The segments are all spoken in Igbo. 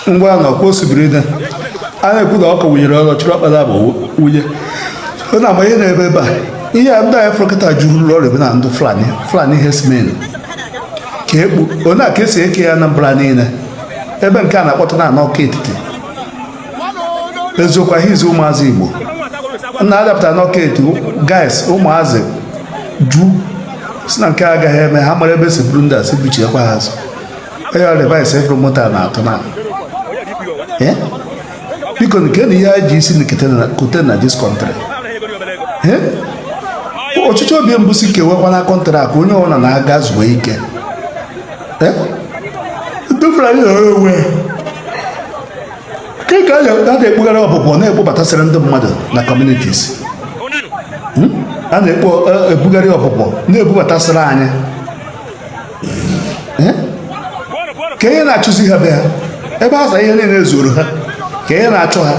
ngwanu ọkwa osibiri na a na-ekwu na ọkụ wụnyere ọrụ chụrụ ọkpara bụ wunye ọ na-ama ihe na-ebe ebe a ihe a ndị anyị fọrọkọta juru ụlọ ọrụ ebe na ndị fulani fulani hesmen ka ekpu onye a ka esi eke ya anambra niile ebe nke a na-akpọta na ọka etiti eziokwu ahịa izi ụmụazị igbo na adapụta n'ọka etiti guys ụmụazị jụ sị na nke a agaghị eme ha mara ebe e si buru ndị a e si buchiekwa ha azụ onye ọ device efere moto a na-atụ na Eh? biko kee na ihe anyị ji isi kote na dis kọntrị eh? ọchịchọ obi m bụ sị kewekwana kọntrị a ka onye ọbụla naa gaa zuo ike eh? ke ka a na-ekpugharị ọpụpụ na-ekpobatasịrị ndị mmadụ na kọmunitis hmm? a na-ebugharị ọpụpụ na-ebubatasịrị anyị eh? ka ihe na-achụzi ha be ha ebe a ihe niile zuru ha ka ihe na-achụ ha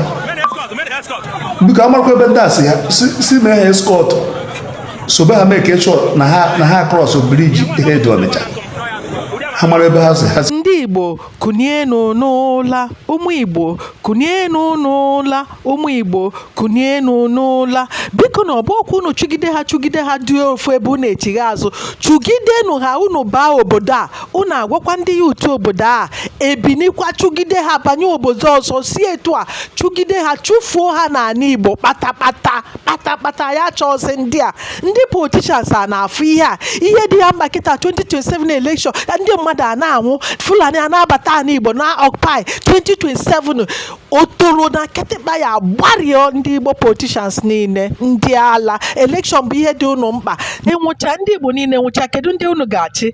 biko amarakwa ebe ndị a si ha si mee ha eskọt sobe ha make sure na ha krọs briji hed ọnịcha ha mara ebe ha si ha ndị igbo kụnienu n'ụla ụmụ igbo kụnienu n'ụla ụmụ igbo kunienu n'ụla bikonu ọ bụ ka unu chụgide ha chụgide ha dị ofu ebe unu echighaa azụ chụgidenu ha unu baa obodo a unu agwakwa ndị youth obodo a ebinikwa chụgide ha banye obodo ọzọ si etu a chụgide ha chụfuo ha n'ala igbo kpatakpata kpatakpata ya chọọzi ndị a ndị politishans a na-afụ ihe a ihe dị ya mkpa kịta 2027 elekshọn ndị mmadụ a na-anwụ fulani a na-abata ala igbo na ọkpai 2027 otoro na kịtịkpa ya gbarịọ ndị igbo politishans niile ndị ala elekshọn bụ ihe dị unu mkpa ịnwụcha ndị igbo niile nwụchaa kedu ndị unu ga-achị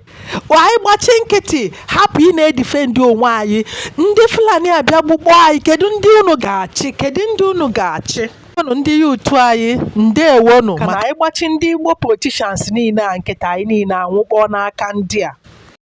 anyị gbachi nkịtị hapụ ị na-edifendi onwe anyị ndị fulani abịa gbukpọ anyị kedu ndị unu ga-achị kedu ndị unu ga-achị nụ ndị youth anyị ndewonu mana anyị gbachi ndị igbo politishans niile a nkịtị anyị niile anwụkpọ n'aka ndị a